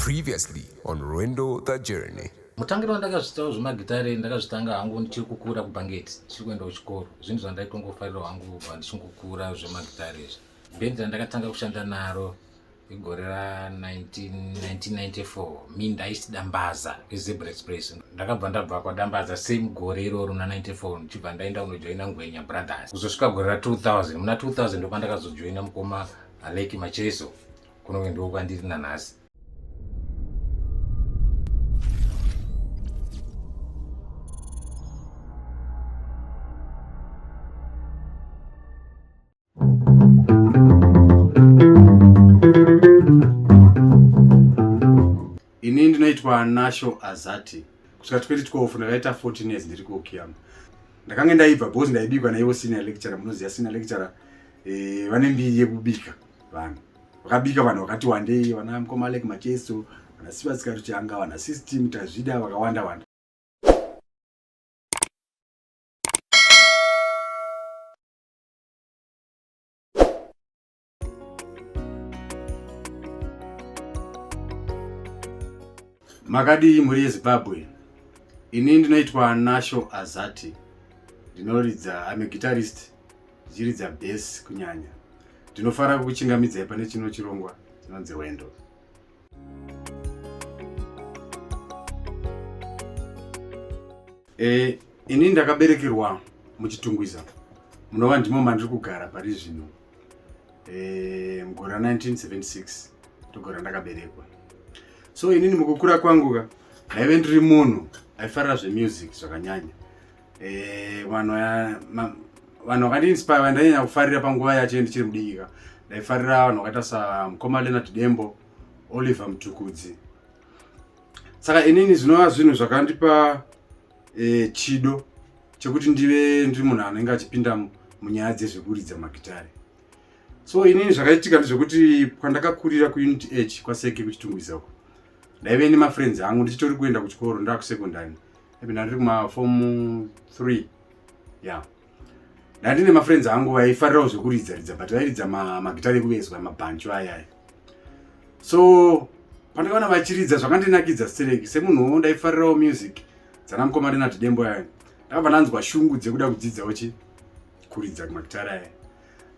Previously on Rwendo the Journey. Mutangiro wandakazvitawo zvemagitare ndakazvitanga hangu ndichiri kukura kubhangeti ndichiri kuenda kuchikoro zvinhu zvandaitongofarirawo hangu kubva ndichingokura zvemagitare izvi bhendi randakatanga kushanda naro igore ra1994 mi ndaiti dambaza izebra express ndakabva ndabva kwadambaza same gore iroro na 94 ndichibva ndaenda kunojoina ngwenya brothers kuzosvika gore ra 2000 muna 2000 ndopandakazojoina mukoma aleki macheso kunonge ndiko kwandiri nanhasi ini ndinoitwa nasho azati kusvika 2012 ndakaita 14 years ndiri kuokiyama ndakange ndaibva bcause ndaibikwa naivo senior lecturer munoziva senior lecturer eh, vane mbiri yekubika vanhu vakabika vanhu vakati wandei vana mkoma alek macheso vana sivasika ruchanga vana system tazvida vakawanda wanda makadii mhuri yezimbabwe ini ndinoitwa nasho azati ndinoridza ame guitarist Zhiri dza base kunyanya. Ndinofara kukuchingamidzai pane chino chirongwa chinonzi Wendo. Eh, ini ndakaberekerwa muchitungwiza munova ndimo mandiri kugara pari zvino e, mugore ra 1976 ndogora ndakaberekwa so inini mukukura kwangu ka ndaive ndiri munhu aifarira zvemusic zvakanyanya eh vanhu vanhu vakati inspire vandanyanya kufarira panguva yacho ndichiri mudikika ndaifarira vanhu vakaita samukoma leonard dembo oliver mutukudzi saka inini zvinova zvinhu zvakandipa e, chido chekuti ndive ndiri munhu anenge achipinda munyaya dzezvekuridza magitare so inini zvakaitika ndezvekuti kwandakakurira kuunit h kwaseke kuchitungwiza uko ndaive nemafriends angu ndichitori kuenda kuchikoro ndaakusecondary even ndiri kuma form 3 yeah ndandine mafriends angu vaifarirawo zvekuridza ridza but vairidza magitari ekuvezwa mabhancho ayaya so pandakaona vachiridza zvakandinakidza stereki semunhuwo ndaifarirawo music dzana mukoma renati dembo yayo ndakabva ndanzwa shungu dzekuda kudzidzawo chi kuridza magitari aya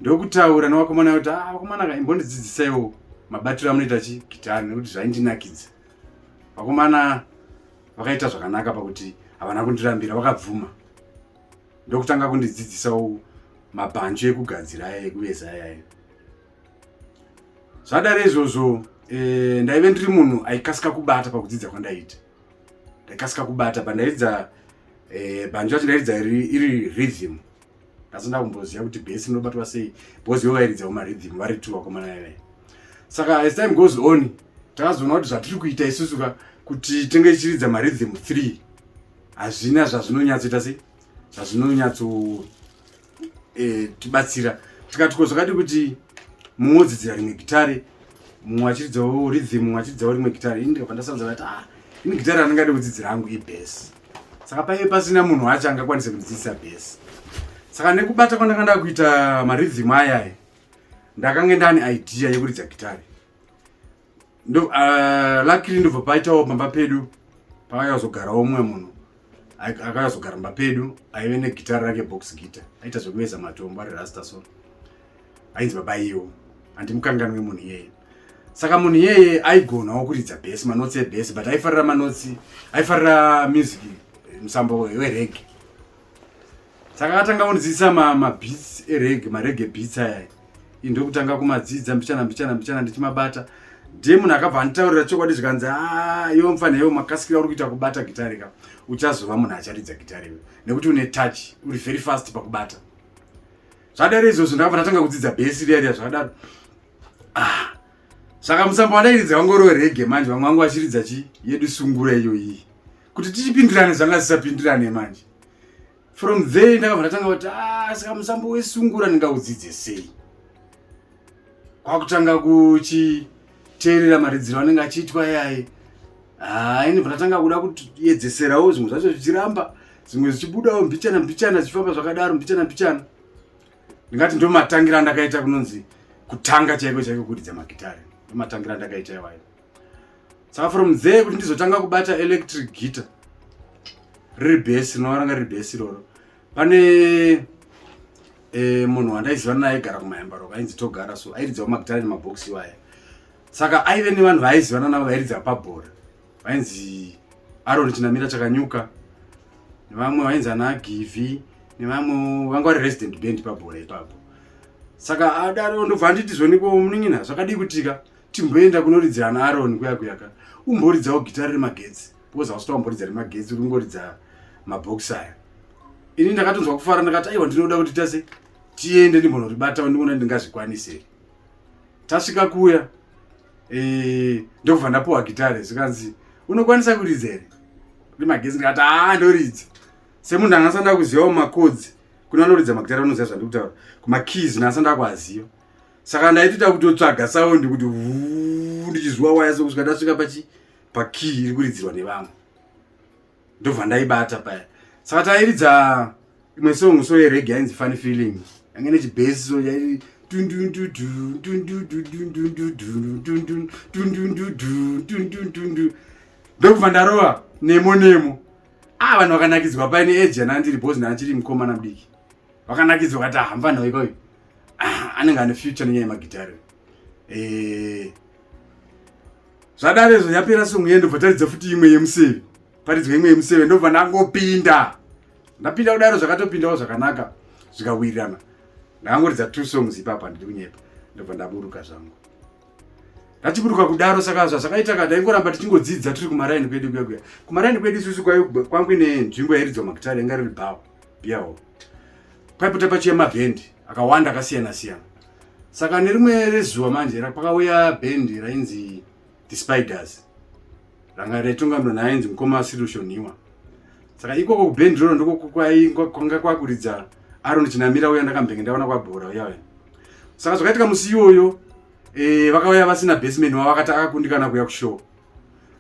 ndokutaura nevakomana kuti a ah, vakomana ka imbondidzidzisaiwo mabatiro amunoita chi gitari nekuti zvaindinakidza vakomana vakaita zvakanaka pakuti havana kundirambira vakabvuma ndokutanga kundidzidzisawo mabhanju ekugadzira aya ekuveza ayaya zvadare izvozvo e, ndaive ndiri munhu aikasika kubata pakudzidza kwandaiita ndaikasika kubata pandairidza e, bhanju racho ndairidza iri rhythm asi ndakumboziva kuti bhesi rinobatwa sei because yovairidza kumarhythm vari two vakomana yavai saka as time goes on takazoona kuti zvatiri kuita isusu ka kuti tenge tichiridza marhythm three hazvina zvazvinonyatsoita sei zvazvinonyatso eh, tibatsira tikati ko zvakati kuti mumwe odzidzira rimwe gitare mumwe achiridzawo rhythm mumwe achiridzawo rimwe gitari ini ndikabva ndasanza vati ah ini gitari randingade kudzidzira hangu ibhesi saka paive pasina munhu wacho angakwanise kundidzidzisa bhesi saka nekubata kwandanga nda kuita maridhim ayayi ndakange ndani idea yekuridza gitari ndo uh, ah, lakiri ndobva paitawo pamba pedu pakayazogarawo umwe munhu akayazogara mba pedu aive negitari rake box gita aita zvekuveza matombo ari rasta so ainzi baba iyewo handimukanganwe munhu iyeye saka munhu iyeye aigonawo kuridza bes manotsi ebes but aifarira manotsi aifarira music eh, musambo werege saka akatanga kundidzidzisa mabits ma erege marege bits aya i ndokutanga kumadzidza mbichana mbichana mbichana ndichimabata ndiye munhu akabva anditaurira chokwadi zvikanzi ah, yo mfana yo makasikira uri kuita kubata gitari ka uchazova munhu acharidza gitari nekuti une touch uri very fast pakubata zvadare izvozvo ndakabva ndatanga kudzidza bhesi riya riya zvakadaro ah. saka musambo wandairidza wangu uriwe rege manje vamwe vangu vachiridza chi yedu sungura iyo iyi kuti tichipindirane zvanga zvisapindirane manje from there ndakabva ndatanga kuti ah, saka musambo wesungura ndingaudzidze sei kwakutanga kuchi teerera maridziro anenge achiitwa yaye haa ini pandatanga kuda kuyedzeserawo zvimwe zvacho zvichiramba zvimwe zvichibudawo mbichana mbichana zvichifamba zvakadaro mbichana mbichana ndingati ndomatangira andakaita kunonzi kutanga chaiko chaiko kuridza magitare ndomatangira andakaita iwayo saka from there kuti ndizotanga kubata electric guitar riri bhesi rinovaranga riri bhesi iroro pane eh, munhu wandaiziva naye aigara kumayambaro kainzi togara so airidzawo magitara nemabhokisi iwaya saka aive nevanhu vaaizivana navo vairidza pabhora vainzi aroni chinamira chakanyuka nevamwe vainzi ana givi nevamwe vanga vari resident band pabhora ipapo saka adaro ndobva anditi zvoniko munin'ina zvakadii kutika timboenda kunoridzira ana aroni kuyakuyaka umboridzawo gitara remagetsi because hausi tamboridza remagetsi uringoridza mabhokisi aya ini ndakatonzwa kufara ndakati aiwa ndinoda kuti tase tiende ndimbonoribatawo ndikuona ndingazvikwanise tasvika kuya e, ndokubva ndapuwa gitare zvikanzi unokwanisa kuridza here rimagezi ndikati haa ndoridza semunhu anga asanda kuzivawo makodzi kune anoridza magitare anoziva zvandi kutaura kumakeys naasanda kuaziva saka ndaitoita kutotsvaga saundi kuti ndichizwa waya sokusvika ndasvika pachi pakiyi iri kuridzirwa nevamwe ndobva ndaibata paya saka tairidza imwe song so yerege yainzi funny feeling yange nechibhesi so yairi ndokubva ndarova nemo nemo a vanhu vakanakidzwa paine age ana ndiri bhozi naachiri mukomana mudiki vakanakidzwa kati ahamba nhau ikoyo anenge ane future nenyaya yemagitare ee zvadare izvo yapera songo iye ndobva taridza futi imwe yemuseve paridzwa imwe yemuseve ndobva ndangopinda ndapinda kudaro zvakatopindawo zvakanaka zvikawirirana ndakangoridza two songs ipapa ndiri kunyepa ndobva ndaburuka zvangu ndatiburuka kudaro saka zvazvakaita ka ndaingoramba tichingodzidza tiri kumaraini kwedu kuya kuya kumaraini kwedu isusu kwange nenzvimbo yairidzwa makitari yanga riri bhawa biyawo kwaiputa pachiya mabhendi akawanda akasiyana siyana saka nerimwe rezuva manje pakauya bhendi rainzi the spiders ranga raitungamirwa naainzi mukoma sirushoniwa saka ikoko kubhendi roro ndokwanga kwakuridza aron chinamira uya ndakambenge ndaona kwabhora uya uya saka zvakaitika musi iyoyo e, vakauya vasina basement wavo vakati akakundikana kuya kushow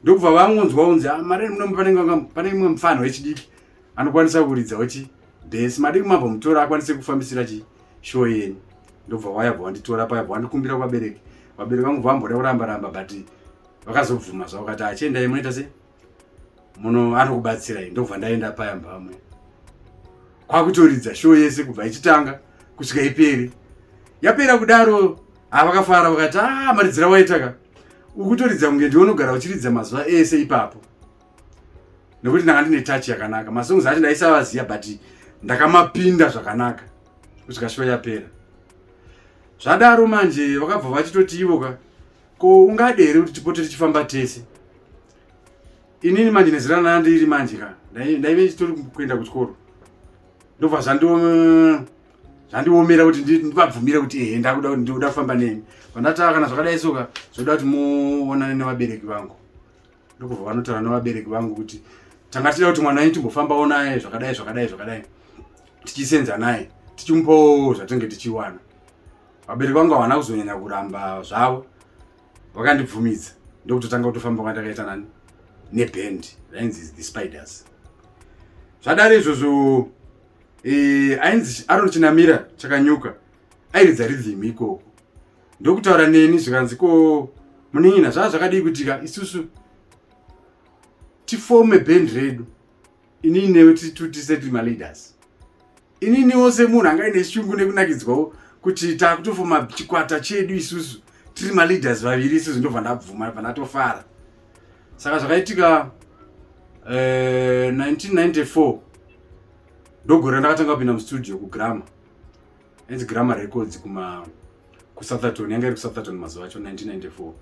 ndokubva vangonzwa unzi ah, mari munomu pane imwe mfanho wechidiki anokwanisa kuridza wechi bhesi madii kumabva mutora akwanise kufambisira chi show yeni ndobva wayabva wanditora paya bva wandikumbira kuvabereki vabereki vangu vamboda kuramba ramba but vakazobvuma zvavo kati achiendai munoita se muno anokubatsirai ndobva ndaenda paya mbamwe kwakutoridza show yese kubva ichitanga kusvika iperi yapera kudaro avakafara vakati a ah, maridzira waitaka ukutoridza kunge ndiwonogara uchiridza mazuva ese ipapo nekuti ndanga ndine touch yakanaka masongs acho ndaisavaziva but ndakamapinda zvakanaka kusvika show yapera zvadaro manje vakabva vachitoti ivo ka ko ungade here kuti tipote tichifamba tese inini manje nezira rana ndiri manje ka ndaive ndichitori kuenda kuchikoro ndobva zvandiomera kuti ndivabvumire kuti ehe ndakuda kuti ndikuda kufamba nemi pandataa kana zvakadai soka zvoda kuti muonane nevabereki vangu ndokubva vanotaura nevabereki vangu kuti tanga tichida kuti mwana wenyu timbofambawo naye zvakadai zvakadai zvakadai tichisenza naye tichimupawo zvatinge tichiwana vabereki vangu havana kuzonyanya kuramba zvavo vakandibvumidza ndokutotanga kutofamba kwandakaita nani neband rainzi the spiders zvadari izvozvo e, ainzi aron chinamira chakanyuka airidza ridhimi ikoko ndokutaura neni zvikanzi ko munin'ina zvaa zvakadii kutika isusu tifome band redu inini newe titutise tiri maleaders ininiwo semunhu anga ine shungu nekunakidzwawo kuti takutofoma chikwata chedu isusu tiri maleaders vaviri isusu ndobva ndabvuma bva ndatofara saka zvakaitika 1994 eh, ndogore ndakatanga kupinda mustudio kugrama Hanzi Grammar Records kuma kuSoutherton yanga iri kuSoutherton mazuva acho 1994.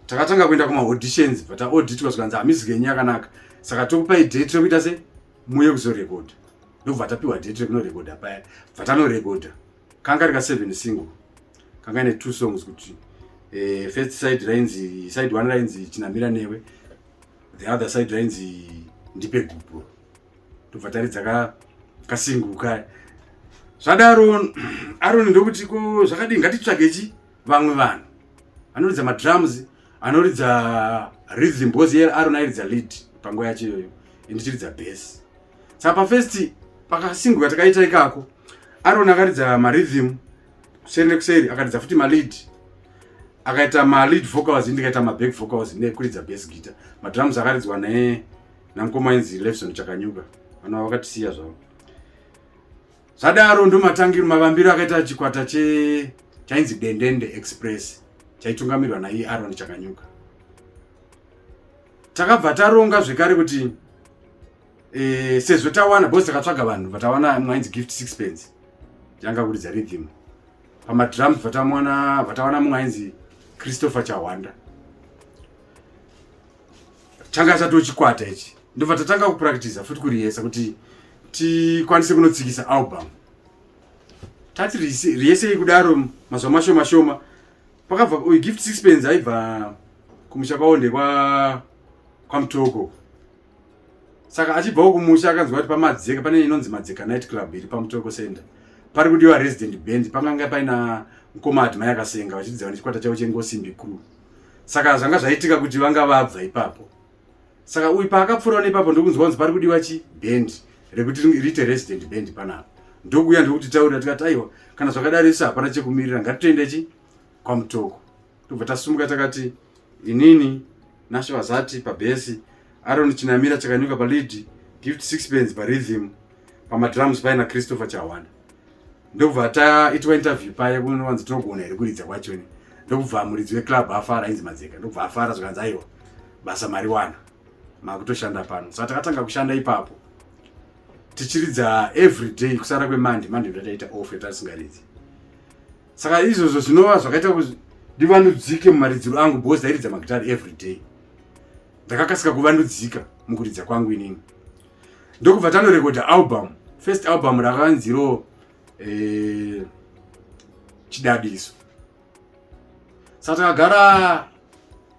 Takatanga kuenda kuma auditions but auditwa zvikanzi hamizi genyu yakanaka. Saka tokupai date rekuita se muye kuzorekoda. Ndobva tapiwa date rekunorekoda paya. Vatanorekoda. Kanga rika 7 single. Kanga ine two songs kuti eh, first side rainzi side one rainzi chinamira newe the other side rainzi ndipe gupuro tobva taridza ka kasingu kaya zvadaro aroni ndokuti ko zvakadii ngatitsvage chi vamwe vanhu anoridza madrums anoridza rhythm because iye aroni airidza lead panguva yacho iyoyo indichiridza base saka pafirst pakasingu katakaita ikako aroni akaridza marhythm kuseri nekuseri akaridza futi malead akaita malead vocals ndikaita maback vocals nekuridza base guitar madrums akaridzwa ne namukoma ainzi levison chakanyuka vanova vakatisiya zvavo zvadaro ndomatangiro mavambiro akaita chikwata che chainzi dendende express chaitungamirwa naiye aron chakanyuka takabva taronga zvekare kuti e, sezvo tawana bos takatsvaga vanhu vatawana mwainzi gift six pence yanga kuridza ridhim pamadrums vatawana mumwe ainzi christopher chahwanda changa chatochikwata ichi ndobva tatanga kupractiza futi kurihesa kuti tikwanise kunotsikisa album tati rihesei kudaro mazuva mashoma shoma pakabva oh, gift sixpence aibva kumusha kwavo ndekwa kwamutoko saka achibvawo kumusha akanzwa kuti pamadzeka pane inonzi madzeka night club iri pamutoko center pari kudiwa resident band panganga paina mukoma admai akasenga vachidzava nechikwata chavo chengosimbi crew saka zvanga zvaitika kuti vanga vabva ipapo saka uyu paakapfuurawo nepapo ndokunzwa kunzi pari kudiwa chi band rekuti riite resident band panapo ndokuuya ndokuti taurira tikati aiwa kana zvakadaro isu hapana chekumirira ngatitoenda chi kwamutoko tobva tasumuka takati inini nashe vazati pabhesi aron chinamira chakanyuka palidi gift six pens parhythm pamadrums paina christopher chawanda ndokubva taitwa interview paye kunowanzi tinogona here kuridza kwacho ini ndokubva muridzi weclub afara ainzi madzeka ndokubva afara zvikanzi aiwa basa mari wana makutoshanda pano saka takatanga kushanda ipapo tichiridza every day kusara kwemande mande ndataita off yatatisingaridzi saka izvozvo zvinova zvakaita kuti ndivandudzike mumaridziro angu bcause ndairidza magitari every day ndakakasika kuvandudzika mukuridza kwangu inini ndokubva tanorekodha album first album rakanziro eh, chidadiso sa takagara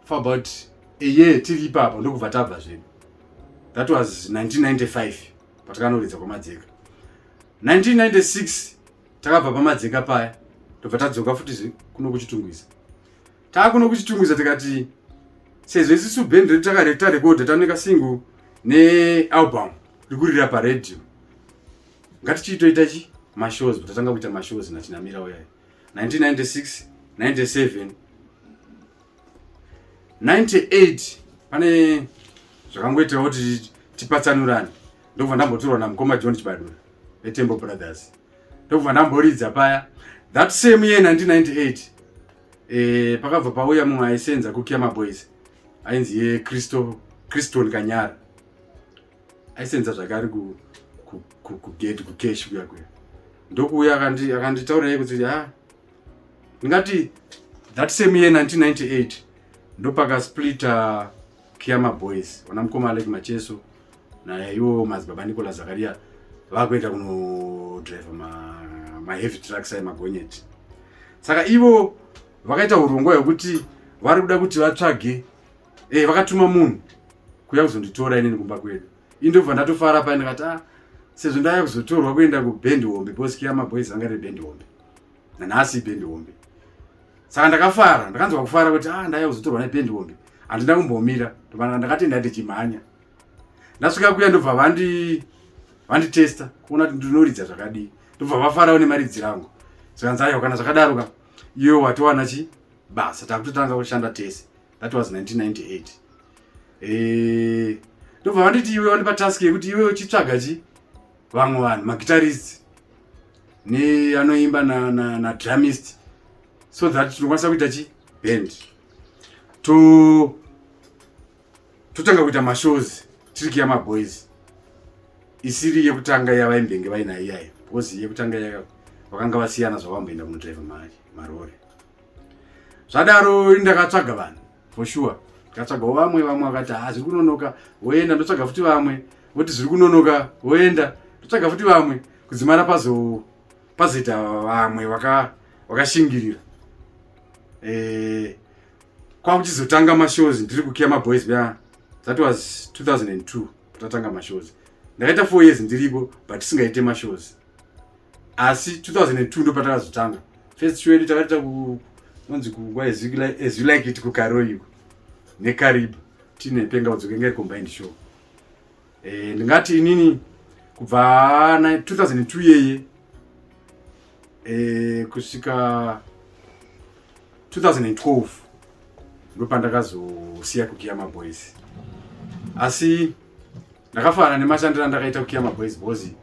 for about a year tiri ipapa ndokubva tabva zvedu that was 1995 patakanoridza kwamadzeka 1996 takabva pamadzeka paya tobva tadzoka futi kuno kuchitungwiza taakuno kuchitungwiza tikati sezvo isisu band redu takarektarekodha taneka single nealbum rikurira paradio ngatichiitoita chi mashows tatanga kuita mashows nachinamira uyayo 1996 97 98 pane zvakangoitawo kuti tipatsanurane ndokubva ndambotorwa namukoma john chibadura vetembo brothers ndokubva ndamboridza paya that same year 1998 e, pakabva pauya mumwe aisenza kukiama boys ainzi ye kristo kriston kanyara aisenza zvake ari kugate kukesh kuya kuya ndokuuya akanditaurira kuti ha ah, ndingati that same year 1998 ndopaka splita Kiyama Boys wana mkoma Alec Macheso na iwo madzibaba Nicola Zakaria vakuenda kuno driver ma, ma heavy trucks ayi magonyeti saka ivo vakaita hurongwa hwekuti vari kuda kuti vatsvage eh vakatuma munhu kuya kuzonditora inini kumba kwedu indobva ndatofara paine kati ah sezvo ndaya kuzotorwa kuenda kuband hombe boskiya maboys anga riri band hombe nanhasi ipendi hombe saka ndakafara ndakanzwa kufara kuti a ah, ndaya kuzotorwa nependi hombe handina kumbomira ndovana ndakatenda ndichimhanya ndasvika kuya ndobva vandi vanditesta kuona kuti ndinoridza zvakadii ndobva vafarawo nemaridzi rangu zvikanzi ayo kana zvakadaroka iyo watowana chi basa takutotanga kushanda tese that was 1998 eh, ndobva vanditi iwe wandipa task yekuti iwe uchitsvaga chi vamwe vanhu maguitarist ne anoimba na, na, na drumist so that tinokwanisa kuita chi band to totanga kuita mashows tiri kiya maboys isiri yekutanga yavaimbenge vainayo iyayo because yekutanga yaka vakanga vasiyana zvavamboenda kunodrive marore zvadaro ndakatsvaga vanhu for sure tikatsvagawo vamwe vamwe vakati ha ah, zviri kunonoka woenda ndotsvaga futi vamwe voti zviri kunonoka woenda ndotsvaga futi vamwe kudzimara pazo pazoita vamwe vakashingirira e, eh, kwakuchizotanga mashows ndiri kukiya maboys bya that was 2002 tatanga mashows ndakaita four years ndiriko but tisingaite mashows asi 2002 ndopatakazotanga first show yedu takaita kunonzi kungwa as you like it kukaroiko nekariba tine penga udzoke ngeri combined show e, ndingati inini kubva 2002 yeye e, kusvika 2012 ndopandakazosiya kukiya maboys asi ndakafara nemashandiro andakaita kukiya maboys bozi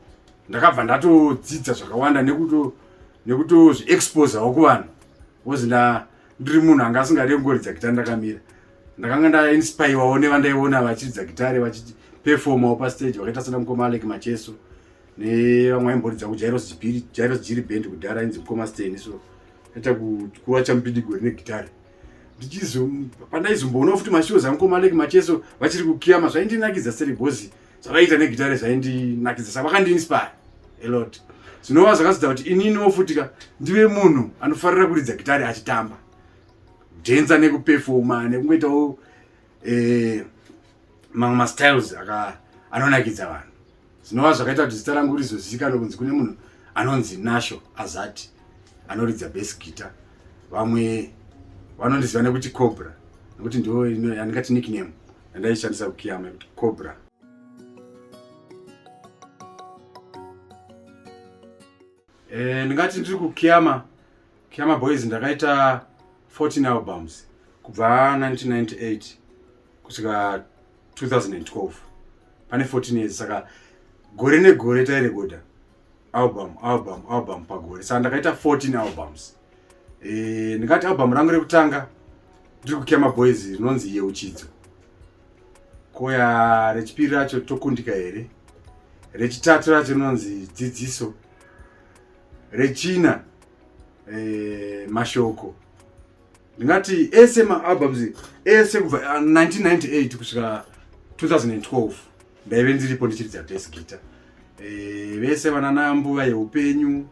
ndakabva ndatodzidza zvakawanda nekuto nekutozviexposawo kuvanhu bcoz nda ndiri munhu anga asingade kungoridza gitare ndakamira ndakanga ndainspirewawo nevandaiona vachiridza gitare vachiperfomawo pastage vakaita sana mukoma alek macheso nevamwe aimboridza kujairos jairos jiri band kudhara ainzi mukoma steni so aita kuwa chamupindigori negitare pandaizomboona futi mashows angu komaleki macheso vachiri kukiyama zvaindinakidza seribhozi zvavaiita negitare zvaindinakidza saka vakandiinspire elot zvinova zvakazodza kuti ininiwo futi ka ndive munhu anofarira kuridza gitare achitamba dhenza nekupefoma nekungoitawo eh, mamwe mastyles aka anonakidza vanhu zvinova zvakaita kuti zita rangu rizozivikanwa kunzi kune munhu anonzi nasho azati anoridza base guitar vamwe vanondiziva nekuti cobra nekuti ndo yandingati nickname yandaishandisa kukiyama yekuti cobra Eh, ndingati ndiri kukiama kiama boys ndakaita 14 albums kubva 1998 kusvika 2012 pane 14 years saka gore negore tairekoda album album album pagore saka ndakaita 14 albums eh, ndingati album rangu rekutanga ndiri kukiama boys rinonzi yeuchidzo koya rechipiri racho tokundika here rechitatu racho rinonzi dzidziso rechina e, mashoko ndingati ese maalbums ese kubva 1998 ah, kusvika 2012 ndaive ndiripo ndichiridza bas guita e, eh, vese vanana mbuva yeupenyu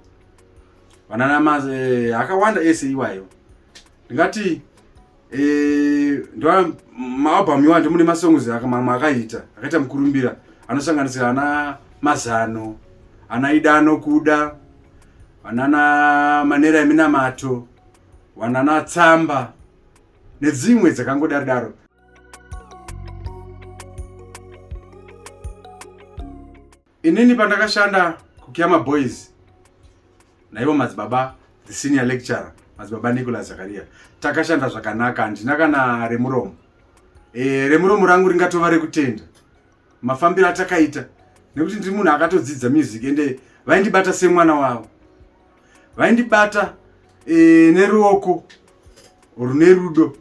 vanana ma e, akawanda ese iwayo ndingati Eh, ndo maalbum iwanje mune masongs mamwe akaita akaita mukurumbira anosanganisira ana mazano ana ida anokuda vanana manera eminamato vanana tsamba nedzimwe dzakangodaro daro Inini pandakashanda kuKyama Boys naivo madzibaba the senior lecturer madzibaba Nicholas Zakaria takashanda zvakanaka handina kana remuromo e, remuromo rangu ringatova rekutenda mafambiro atakaita nekuti ndiri munhu akatodzidza music ende vaindibata semwana wavo vaindibata e, neruoko rune rudo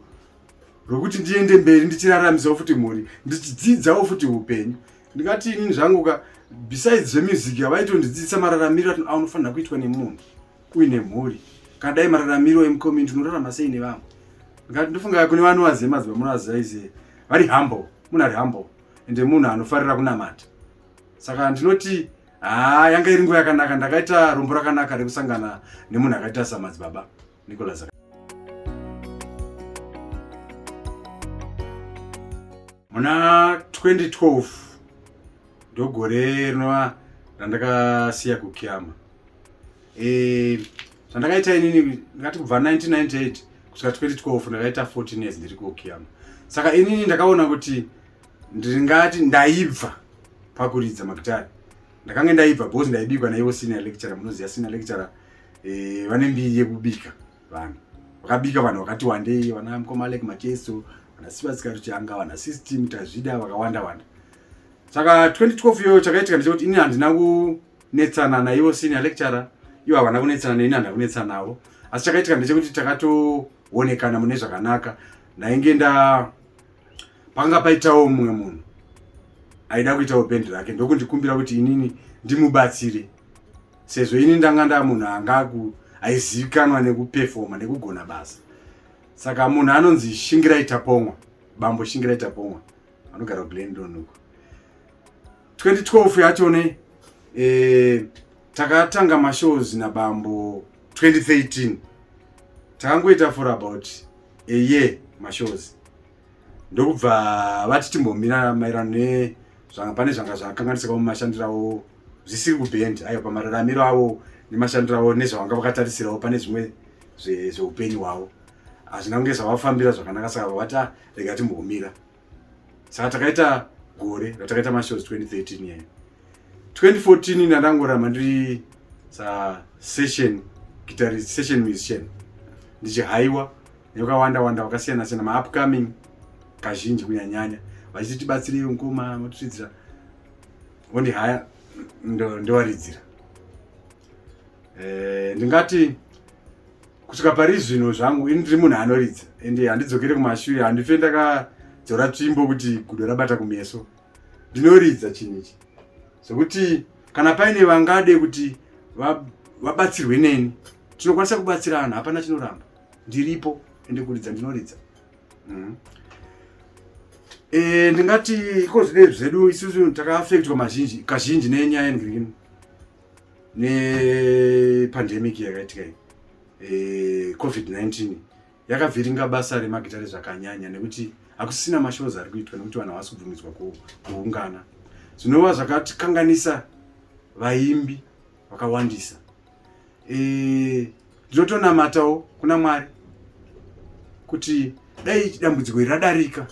rwekuti ndiende mberi ndichiraramisawo futi mhuri ndichidzidzawo futi upenyu ndikati ini zvangu ka besides zvemusic havaitondidzidzisa mararamiro anofanira kuitwa nemunhu uine mhuri kana dai mararamiro emucommunity unorarama sei nevamwe ndikati ndofunga kune vano vazive maziva munovaziva ize vari humble munhu ari humble ende munhu anofarira kunamata saka ndinoti haa yanga iri nguva yakanaka ndakaita rombo rakanaka rekusangana nemunhu akaita samadzibaba Nicholas muna 2012 ndogore rinova randakasiya kukiama e, zvandakaita inini ndingati kubva 1998 kusvika 2012 ndakaita 14 years ndiri kukiama saka inini ndakaona kuti ndingati ndaibva pakuridza magitari ndakange ndaibva because ndaibikwa naivo senior lecturer munoziva senior lecturer eh, vane mbiri yekubika vanhu vakabika vanhu vakati wandei vana mkomalek macheso vana sivasika ruchanga vana system tazvida vakawanda wanda saka 2012 iyoyo chakaitika ndechekuti ini handina kunetsana naivo senior lecturer ivo havana kunetsana neini handina kunetsana navo asi chakaitika ndechekuti takatoonekana mune zvakanaka ndainge nda panga paitawo mumwe munhu aida kuitawo bendi rake ndokundikumbira kuti inini ndimubatsire sezvo ini ndanga nda munhu anga aku aizivikanwa nekupefoma nekugona basa saka munhu anonzi shingirai tapomwa bambo shingirai tapomwa anogara kuglendon uko 2012 yacho ne eh, takatanga mashows nabambo 2013 takangoita for about a year mashows ndokubva vati timbomira maererano ne zvanga pane zvanga zvakanganisika mumashandiro avo zvisiri kubhendi ayo pamararamiro avo nemashandiro avo nezvavanga vakatarisirawo pane zvimwe zveupenyu hwavo hazvina kunge zvavafambira zvakanaka saka vavati ah, rega timbomira saka takaita gore ratakaita mashows 2013 yayo 2014 ndandangoramba ndiri sa session guitarist session musician ndichihaiwa yakawanda wanda wakasiyana siyana maupcoming kazhinji kunyanyanya vachiti tibatsirei mukoma matiridzira ondi haya ndowaridzira eh, ndingati kusvika pari zvino zvangu ini ndiri munhu anoridza ende handidzokere kumashure handife ndakadzora tsvimbo kuti gudo rabata kumeso ndinoridza chinhu ichi zvekuti kana paine vangade kuti vabatsirwe neni tinokwanisa kubatsirana hapana chinoramba ndiripo ende kuridza ndinoridza mm. e, ndingati iko zvinei zvedu isusu takaafektwa mazhinji kazhinji nenyaya yendwirino nepandemic yakaitika iyi e, covid-19 yakavhiringa basa remagitare zvakanyanya nekuti hakusisina mashows ari kuitwa nekuti vanhu havasi kubvumidzwa kuungana zvinova zvakatikanganisa vaimbi vakawandisa eh, ndinotonamatawo e, kuna mwari kuti dai dambudziko iri radarika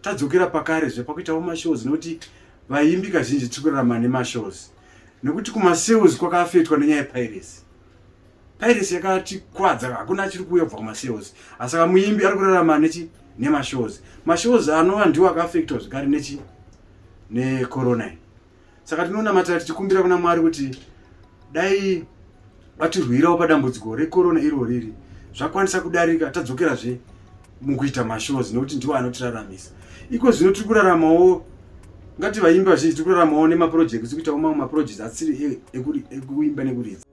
tadzokera pakare zve pakuitawo mashows nekuti vaimbi kazhinji tiri kurarama nemashows nekuti kumasales kwakafetwa nenyaya yepiracy piracy yakatikwadza hakuna achiri kuuya kubva kumasales asi saka muimbi ari kurarama nechi nemashows mashows anova ndiwo akafektwa zvekare nechi necorona saka tinonamata tichikumbira kuna mwari kuti dai vatirwirawo padambudziko rekorona iro riri zvakwanisa kudarika tadzokerazve mukuita mashows nekuti ndiwo anotiraramisa iko zvino tiri kuraramawo ngati vaimbi vazhinji tiri kuraramawo nemapurojekti tiri kuitawo mamwe mapurojekti asiri e, ekuimba nekuridza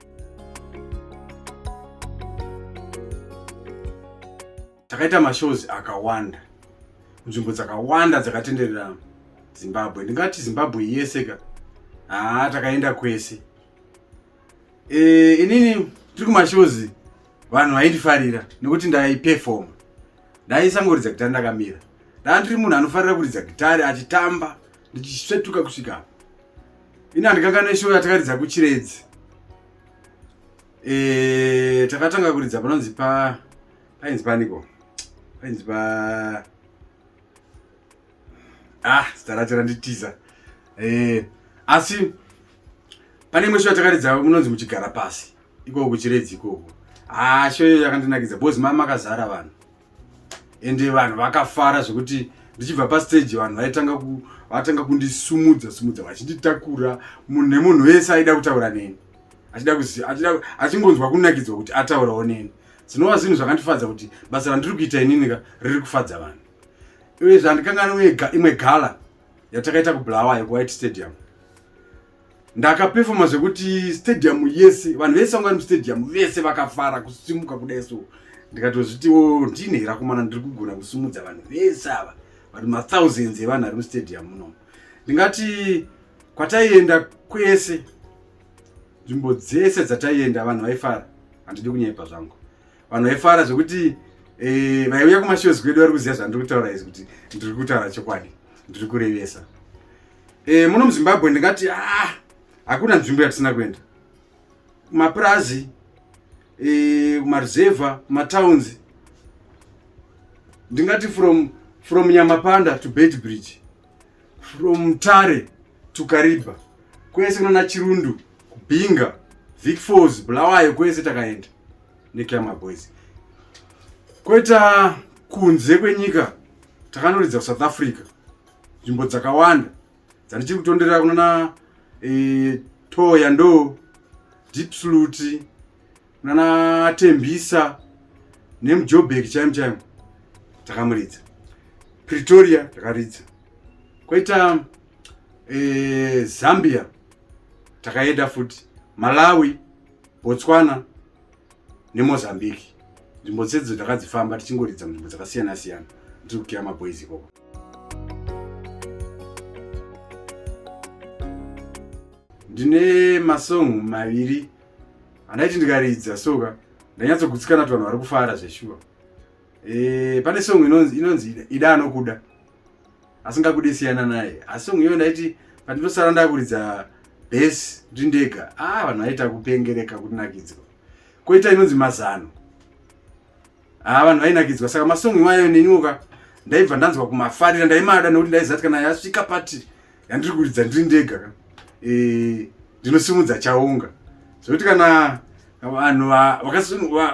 takaita mashows akawanda nzvimbo dzakawanda dzakatenderera zimbabwe ndingati zimbabwe yese ka haa takaenda kwese e, inini tiri kumashows vanhu vaindifarira nekuti ndaipefoma ndaisangoridza gitari ndakamira ndaa ndiri munhu anofarira kuridza gitari achitamba ndichisvetuka kusvika ini handikanga neshow yatakaridza kuchiredzi e, takatanga kuridza panonzi pa painzi paniko painzi pa ah zita racho randitiza eh, asi pane imwe sho yatakaridza munonzi muchigara pasi ikoko kuchiredzi ikoko haa ah, sho iyo yakandinakidza bcoz mai makazara vanhu ende vanhu vakafara zvekuti ndichibva pasteji vanhu vaitanga ku vatanga kundisumudza sumudza vachinditakura nemunhu wese aida kutaura neni achingonzwa kunakidzwa kuti ataurawo neni Zvinova zvinhu zvakandifadza kuti basa randiri kuita ininika riri kufadza vanhu. Uyezve handikanganwi uye imwe gala yatakaita kuBulawayo kuWhite Stadium. Ndakapefoma zvekuti stadium yese vanhu vese vanga vari mustadium vese vakafara kusimuka kudai so ndikatozvitiwo ndine rakomana ndiri kugona kusimudza vanhu vese ava but mathousands evanhu ari mustadium munomu ndingati kwataienda kwese nzvimbo dzese dzataienda vanhu vaifara handidi kunyepa zvangu vanhu vaifara zvekuti eh, vaiuya e, kumashows kwedu vari kuziva zvandiri kutaura izvi kuti ndiri kutaura chokwadi ndiri kurevesa e, muno muzimbabwe ndingati ah, hakuna nzvimbo yatisina kuenda kumapurazi eh, kumaruzevha e, kumatowns ndingati from from nyamapanda to bed bridge from Mutare to Kariba kwese kunana Chirundu kubhinga Vic Falls Bulawayo kwese takaenda neClama Boys kweta kunze kwenyika takanoridza kuSouth Africa nzvimbo dzakawanda dzandichiri kutondera kunana e, eh, Toya ndo Deep Salute nana tembisa nemujobek chaimo chaimo takamuridza pretoria takaridza kwaita e, zambia takaenda futi malawi botswana nemozambique nzvimbo dzedzo takadzifamba tichingoridza munzvimbo dzakasiyana siyana tiri kukira maboys ikoko ndine masong maviri handaiti ndikaridza soka ndanyatsogutsikana kuti vanhu vari kufara zveshuwa eh, pane song inonzi inonzi ida anokuda asingakude siyana naye asi song iyoyo ndaiti pandinosara ndakuridza bes ndi ndega a ah, vanhu vaita kupengereka kunakidzwa koita inonzi mazano a ah, vanhu vainakidzwa saka masong iwayo neniwoka ndaibva ndanzwa kumafarira ndaimada nekuti ndaizati kana yasvika pati yandiri kuridza ndiri ndega ka eh, ndinosimudza chaunga zvekuti kana vanhu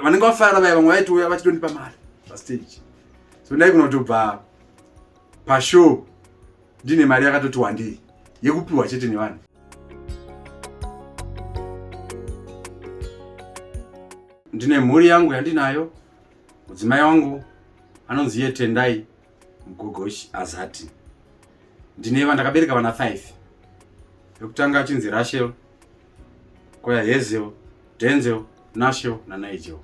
vanenge vafara vaya vamwe vaitouya vachitondipa mari pastage so ndaigona kutobva pashow ndine mari yakatoti wandei yekupiwa chete nevanhu ndine mhuri yangu yandinayo mudzimai wangu anonzi iye tendai Mgogoshi azati ndine vana ndakabereka vana 5 yokutanga achinzi Rachel koya Hazel Denzel Nashel na Nigel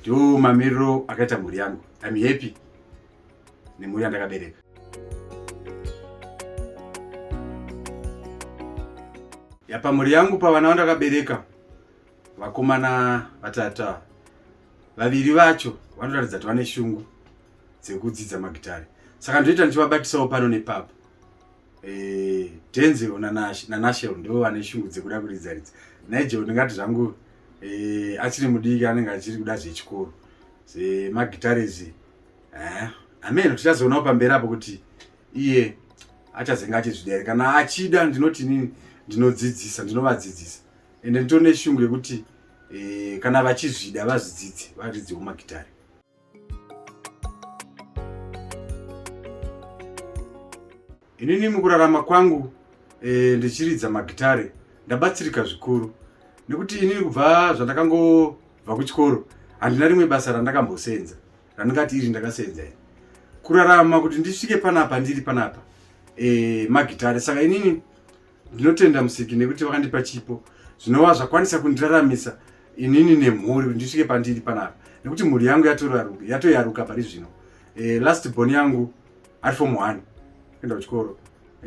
ndiwo mamiriro akaita mhuri yangu I'm happy nemhuri yandakabereka yapa mhuri yangu pavana vandakabereka vakomana vatatu vaviri vacho vanoratidza kuti vane shungu dzekudzidza magitare saka ndoita ndichivabatisawo pano nepapa eh, denzel nanashel ndivo vane shungu dzekuda kuridza ridza nigel ndingati zvangu eh, achiri mudiki anenge achiri kuda zvechikoro zvemagitarezi eh, ameno tichazoonawo pamberi apo kuti iye achazenge achizvidere kana achida ndinoti inini ndinodzidzisa ndinovadzidzisa ende nditone shungu yekuti e, kana vachizvida vazvidzidze varidzewo magitare inini mukurarama kwangu e, ndichiridza magitare ndabatsirika zvikuru nekuti inini kubva zvandakangobva kuchikoro handina rimwe basa randakambosenza randingati iri ndakasenza ini kurarama kuti ndisvike panapa ndiri panapa e, magitare saka inini ndinotenda musiki nekuti vakandipa chipo zvinova zvakwanisa kundiraramisa inini nemhuri kuti ndisvike pandiri panapa nekuti mhuri yangu yatoyaruka pari zvino e, last bon yangu ari fom one kuenda kuchikoro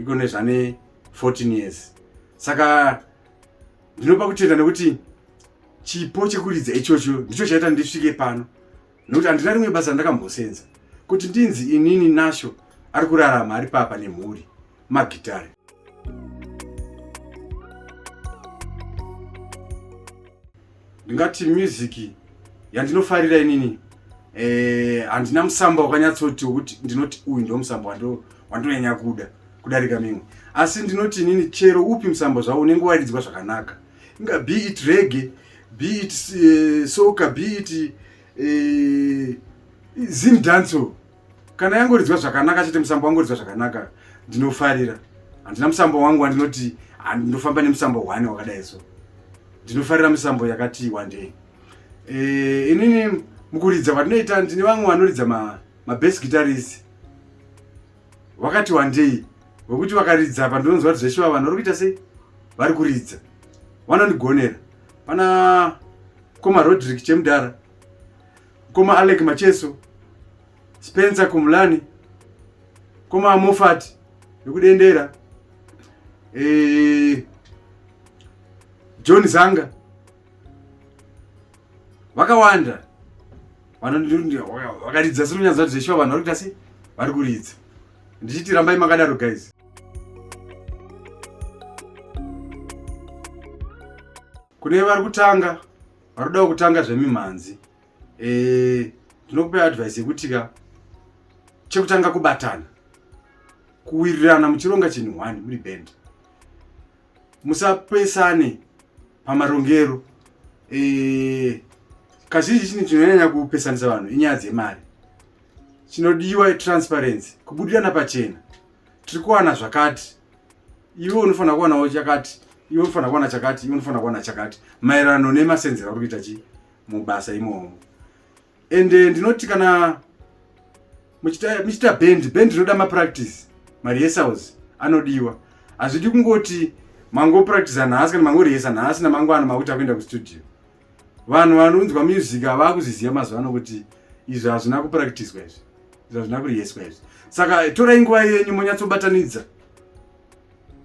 iko nezvane 14 years saka ndinopa kutenda nekuti chipo chekuridza ichocho ndicho chaita ndisvike pano nokuti handina rimwe basa randakambosenza kuti ndinzi inini nasho ari kurarama ari papa nemhuri magitare ndingati muziki yandinofarira inini eh, handina musamba wakanyatsoti wekuti ndinoti uyu ndo musamba wandonyanya kuda kudarika mimwe asi ndinoti inini chero upi musamba zvavo unenge waridzwa zvakanaka inga be it rege be it uh, eh, soka be it uh, eh, zim danso kana yangoridzwa zvakanaka chete musambo wangoridzwa zvakanaka ndinofarira handina musambo wangu wandinoti ndinofamba nemusambo one wakadai so ndinofarira misambo yakati wandei e, eh, inini mukuridza kwatinoita ndine vamwe vanoridza mabest ma guitarist wakati wandei wekuti vakaridza apa ndinonzwa kuti zveshuwa vanhu vari kuita sei vari kuridza vanondigonera pana mkoma rodrick chemudhara mkoma alec macheso spencer kumulani mkoma mofat yekudendera e, eh, john zanga vakawanda vakaridza sinonyadza kuti zveshuwa vanhu vari kuita sei vari kuridza ndichiti rambai makadaro guys kune vari kutanga vari kudawo kutanga zvemimhanzi eh, ndinokupai advice yekuti ka chekutanga kubatana kuwirirana muchironga chinhu one muri band musapesane pamarongero e, kazhinji chinhu chinonyanya kupesanisa vanhu inyaya dzemari chinodiwa transparency kubudirana pachena tiri kuwana zvakati iwe unofanira kuwanawo chakati iwe unofanira kuwana chakati iwe unofanira kuwana chakati maererano nemasenzero ari kuita chi mubasa imomo and eh, ndinoti kana muchita band band rinoda mapractice marehearsals anodiwa hazvidi kungoti mangopractisa nhasi kana mangorehesa nhasi namangwana makuti akuenda kustudio vanhu vanonzwa music havaa kuziziva mazuva ano kuti izvi hazvina kupractiswa izvi izvi hazvina kureheswa izvi saka torai nguva yenyu monyatsobatanidza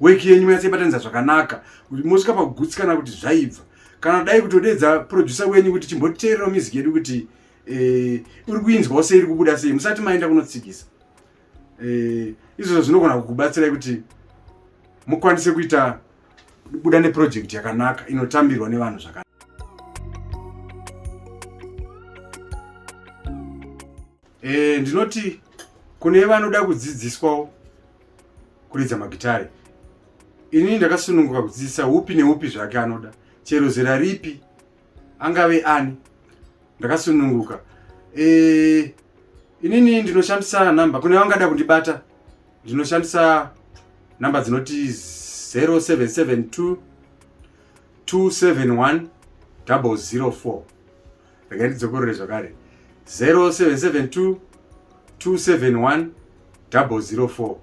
weki yenyu yatsaibatanidza zvakanaka mosvika pakugutsikana kuti zvaibva kana dai kutodeedza producer wenyu kuti chimboteererawo music yedu kuti eh, uri kuinzwawo sei iri kubuda sei musati maenda kunotsikisa eh, izvozvo zvinogona kukubatsirai kuti mukwanise kuita buda neprojekti yakanaka inotambirwa nevanhu zvakanaka Eh, ndinoti kune vanoda kudzidziswawo kuridza magitare ini ndakasununguka kudzidzisa upi neupi zvake anoda chero zera ripi angave ani ndakasununguka e, inini ndinoshandisa nhamba kune vangada kundibata ndinoshandisa nhamba dzinoti 0772 271 004 regai ndidzokorore zvakare 0772 271 004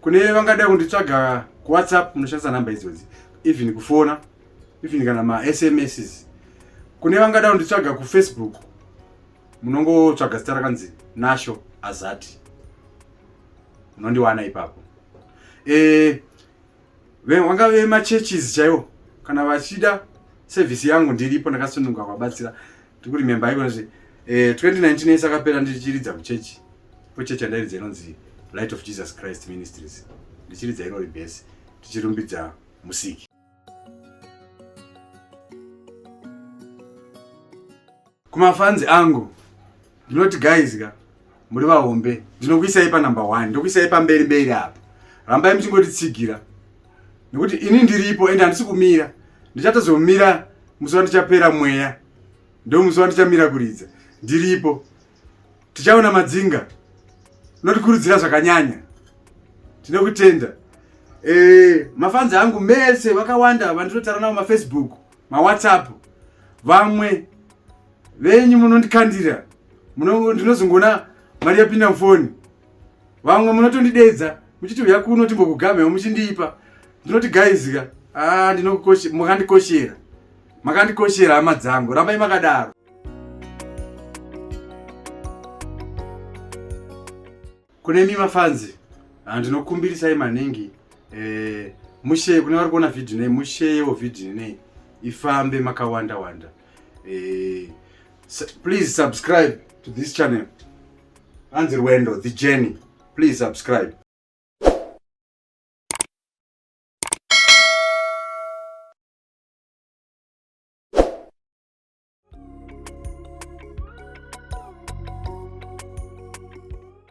kune vangada kunditsvaga kuwhatsapp munoshandisa nhamba idzodzi even kufona even kana masms kune vangada kunditsvaga kufacebook munongotsvaga zita rakanzi nasho azati munondiwana ipapo e, vanga vemachurches chaivo kana vachida sevhisi yangu ndiripo ndakasununga kwabatsira ndikuri memba iko nezve 2019 yese akapera ndichiridza kuchechi kwechechi yandairidza inonzi light of jesus christ ministries ndichiridza irori bhesi tichirumbidza musiki kumafanzi angu ndinoti guys ka muri vahombe ndinokuisai panumber one ndokuisai pamberi mberi apa rambai muchingotitsigira nekuti ini ndiripo ende handisi kumira ndichatozomira musi wandichapera mweya ndo musi wandichamira kuridza ndiripo tichaona madzinga notikurudzira zvakanyanya tinokutenda e, eh, mafanzi angu mese vakawanda vandinotaura navo mafacebook mawhatsapp vamwe venyu munondikandira ndinozongoona mari yapinda mufoni vamwe munotondideedza muchiti uya kuno timbokugamhewo muchindiipa ndinoti gaizika ah, makandikoshera makandikoshera hama dzangu rambai makadaro Kune mi mafanzi ah, ndinokumbirisai maningi eh, mushe kune vari kuona vhidhi nei musheyewo vhidhi nei ifambe makawanda wanda eh, please subscribe to this channel hanzi rwendo the journey please subscribe